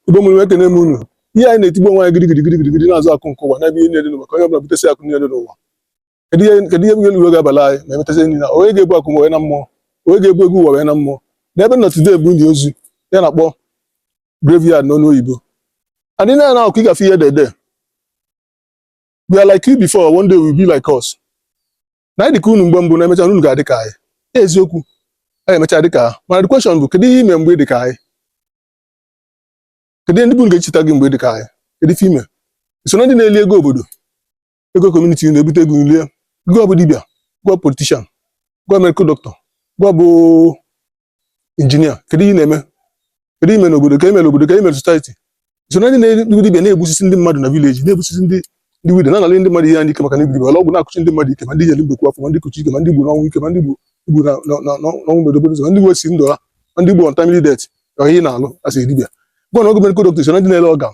igbo mụrụ ekene m unu ihe anyị na-etigbu onwe anyị gidigidi gidigidi gidi na-azọ akụ nke ụwa n'ebe ihe niile dị n'ụwa ka onye ọbụla butesi akụ niile dị n'ụwa kedu ihe kedu ihe bụ ihe uru ọ ga-abala anyị ma emetezi enyi na onye ga-ebu akụ wee na mmụọ onye ga-ebu ego ụwa wee na mmụọ n'ebe nọ today bụ ini ozu ihe a na-akpọ graveyard n'ọnụ oyibo and ị na-ana n'akụkụ ị ga-afụ ihe edede we were like you before one day you will be like us na anyị dịka unu mgbe mbụ na emecha unu ga-adị ka anyị eziokwu anyị emecha dịka ha mana the question bụ kedu ihe ime mgbe ị dị ka anyị kedu ihe ndị bụ ga-echeta gị mgbe ị dị ka anyị kedu ife ime i so na ndị na-eli ego obodo ego community na-ebute ego na-eli gị bụ dibịa gị bụ politician gị bụ medical doctor gị bụ engineer kedu ihe ị na-eme kedu ihe ime n'obodo ka imere obodo ka imere society i so na ndị na-egbu dibia na-egbusisi ndị mmadụ na village na-egbusisi ndị ndị widow na-anara ndị mmadụ ihe ha n'ike maka na ị bụ dibia ọgwụ na-akụchi ndị mmadụ ike ma ndị nyere mbekwu afọ ma ndị kụchi ike ma ndị gburu ọnwụ ike ma ndị gburu igbu na na- na- na- n'ọnwụ mberede okporo ụzọ ma ndị gbubisi ndụ ha ma ndị gburu untimely death ọ ihe a ị na-alụ as dibia gịwa na-abụ medical doctor so na ndị na-ele organ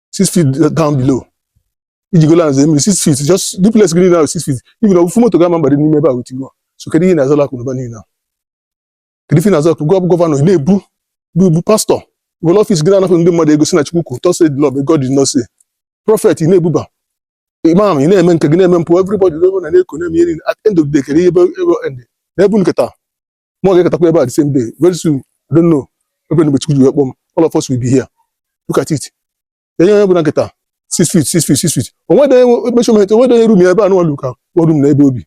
six feet down below iji go lands mmiri six feet just the place gị now six feet even ofu moto gị ama abadị n'ime ebe a with you so kedu ihe ị na-azọla akụnụba niile a kedu ife na-azọ akụ gị bụ governor ị na-ebuba ị bụ pastor were office gị na-anapụ ndị mmadụ ego sị na chukwu kwu thus said the lord but god did not say prophet ị na-ebuba imam ị na-eme nke gị na-eme mpụ everybody na na-eko na-eme ihe niile at the end of the day kedu ihe ebe ebe end n'ebe nketa mụwa ga-eketakwa ebe a the same day very soon I don't know mgbe Chukwu ji wee kpọ m all of us will be here look at it enye onye ọbụla nketa six feet six feet six feet onwede measurement onwede onye room ya ebe a nụwa lu ka room na ebe o bi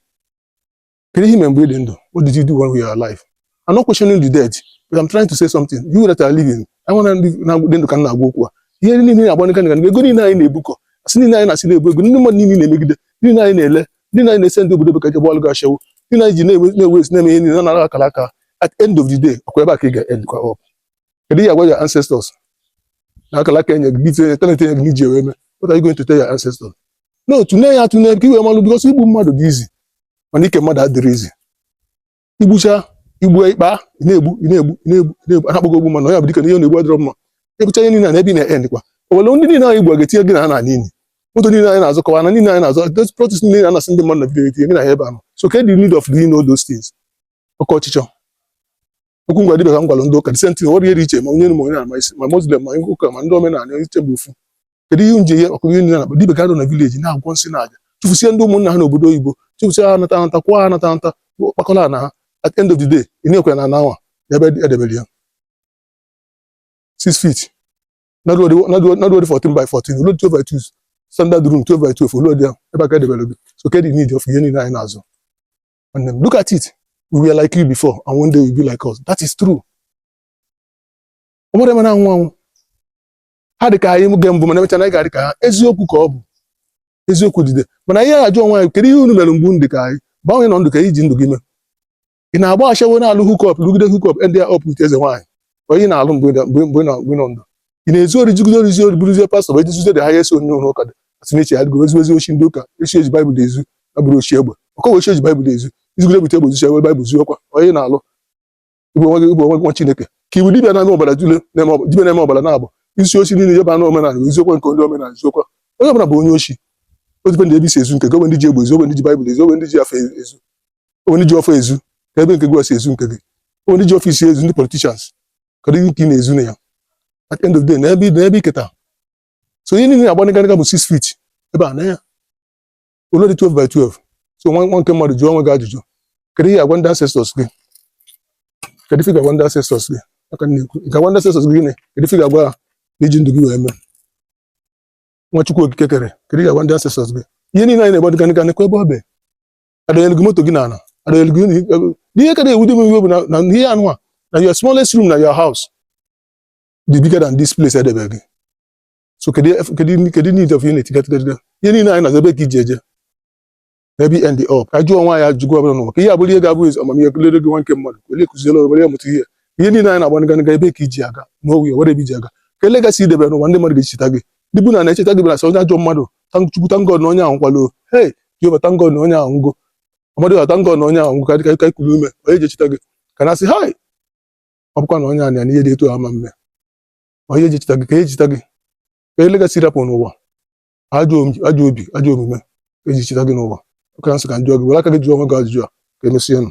kedu ihe imere mgbe ị dị ndụ what did you do when you are alive I'm not questioning the dead but I'm trying to say something you that are living I want ndị na-adị ndụ ka m na-agwa okwu a ihe niile na-agba ndị ka ego niile anyị na-ebukọ asị niile anyị na-asị na-ebu ego ndị mmadụ niile na-emegide niile anyị na-ele ndị anyị na-esend obodo bekee jebe ọlụ ịgba ashawo ndị anyị ji na-ewe na-ewe isi na-eme ihe niile na-anara akara aka at the end of the day ọkwa ebe a ka ị ga-end kwa up kedu ihe ị ga-agwa your ancestors na akara aka enye gị gị tinye talent enye gị n'iji ewe eme what are you going to tell your ancestors no tụnee ya atụne ka i wee malụ because igbu mmadụ dị easy mana ike mmadụ adịrọ easy igbucha igbu ikpa na-egbu na-egbu na-egbu na-egbu ha akpọgo ogbu mmadụ onye bụ dike na ihe na-egbu adịrọ mma igbucha ihe niile a na ebe ị na-end kwa onwere ndị niile anyị gbu ga-etinye gị na ha n'ini moto niile anyị na-azụkọwa ana niile anyị na-azụ those properties niile anasị ndị mmadụ na village etinye gị na ha ebe ahụ so ke the need of doing all those things oke ọchịchọ okwu m gwa dibịa ka m gwara ndị ụka the same thing ọ dịrọ iche ma onye ma onye ama isi ma muslim ma ụka ma ndị omenala ha ncha bụ ofu kedu ihe nje ihe ọkụkọ ihe na-akpa dibe ga na village na-agwọ nsị na aja chụfusie ndị ụmụnna ha n'obodo oyibo chụfusie ha anata anata kwụọ ha anata anata kpakọla na ha at end of the day ị na-ekwe na anawa ebe edebere ya 6 feet na o lurọdị 14 by 14 o lurọdị 12 by 2 standard room 12 by 12 o lurọdị ya ebe a ka edebere gị so kedu need of ihe niile anyị na-azọ nwanne m look at it we were like you before and one day you'll be like us that is true ọ bụrụ eme na-anwụ anwụ ha dị ka anyị mgbe mbụ mana emechaa na anyị ga-adị ka ha eziokwu ka ọ bụ eziokwu dide mana anyị ajụ onwe anyị kedu ihe unu mere mgbe unu dị ka anyị gbanwee nọ ndụ ka iji ndụ gị mee ị na-agba ashawo na-alụ hookup rụgide hookup end up with eze nwaanyị onye na-alụ mgbe ị nọ ndụ ị na-ezu ori zugide ori zuo ori bụrụzie pastọ bụ ejizuzo dị ha ya esi onye ụlọ ụka dị a sị na oshi ya dịgo ezuwezie oshi ndị ụka oshi eji baịbụl ezu abụrọ oshi egbe ọ kwa oshi eji baịbụl ezu izugide bute egbe zuo oshi egbe baịbụl zuokwa onye na-alụ igwe nwe gị igwe nwe gị nwa chineke ka ị wụ dibịa na-eme ọbara dule dibịa na-eme ọbara na-abụ isi oshi niile jeba na omenala ezukwa nke ndị omenala ezukwa onye ọbụla bụ onye oshi ọ depend ebe isi ezu nke gị onwe ndị ji egbe ezu onwe ndị ji baịbụl ezu onwe ndị ji afa ezu onwe ndị ji ọfọ ezu ka ebe nke gị isi ezu nke gị onwe ndị ji office ezu ndị politicians kedu ihe nke ị na-ezu na ya at end of day na ebe na ebe iketa so ihe niile na-agbanịgarịga bụ six feet ebe a na ya o lurọdị 12 by 12 so nwa nwa nke mmadụ jụọ onwe gị ajụjụ kedu ihe agwa ndị ancestors gị kedu ife ị ga-agwa ndị ancestors gị ọ ka m na-ekwu ị ga-agwa ndị ancestors gị gịnị kedu ife ị ga-agwa ha na iji ndụ gị wee mee nwa chukwu okike kere kedu ị ga-agwa ndị ancestors gị ihe niile anyị na-agba dịganịga nekwa ebe ọ bụ adọnyere gị moto gị n'ala adọnyere gị unu- ihe ka na-ewute m iwe bụ na- na ihe anụ a na your smallest room na your house dị bigger than this place edebe gị so kedu kedu kedu need of unit gatigadiga ihe niile anyị na-azọ ebe ka iji eje ebe end up ka jụọ onwe gị ajụjụ ọbụla n'ụwa ka ihe abụrụ ihe ga-abụ ezi amamihe lere gị nwa nke mmadụ ka onye kụziere ị were ya mụta ihe ihe niile anyị na-agba nganiga ebe ka iji aga na o nwere ebe iji aga ka legacy i debe n'ụwa ndị mmadụ ga-echeta gị ndị bụ na na-echeta gị bụ na sị onye ajọ mmadụ chukwu thank God na onye ahụ nwụkwalụ hei jehova thank God na onye ahụ nwụgo amadịọha thank God na onye ahụ nwụgo ka dịka ka ikulu ume onye ji echeta gị ka na sị hai ọ bụkwa na onye a nọ ya na ihe dị etu a ama mme onye eji echeta gị ka eji echeta gị ka legacy ị rapụ n'ụwa ajọ obi ajọ omume eji echeta gị n'ụwa ọ ka m sị ka m jụọ gị were aka gị jụọ onwe gị ajụjụ a ka emesịa nụ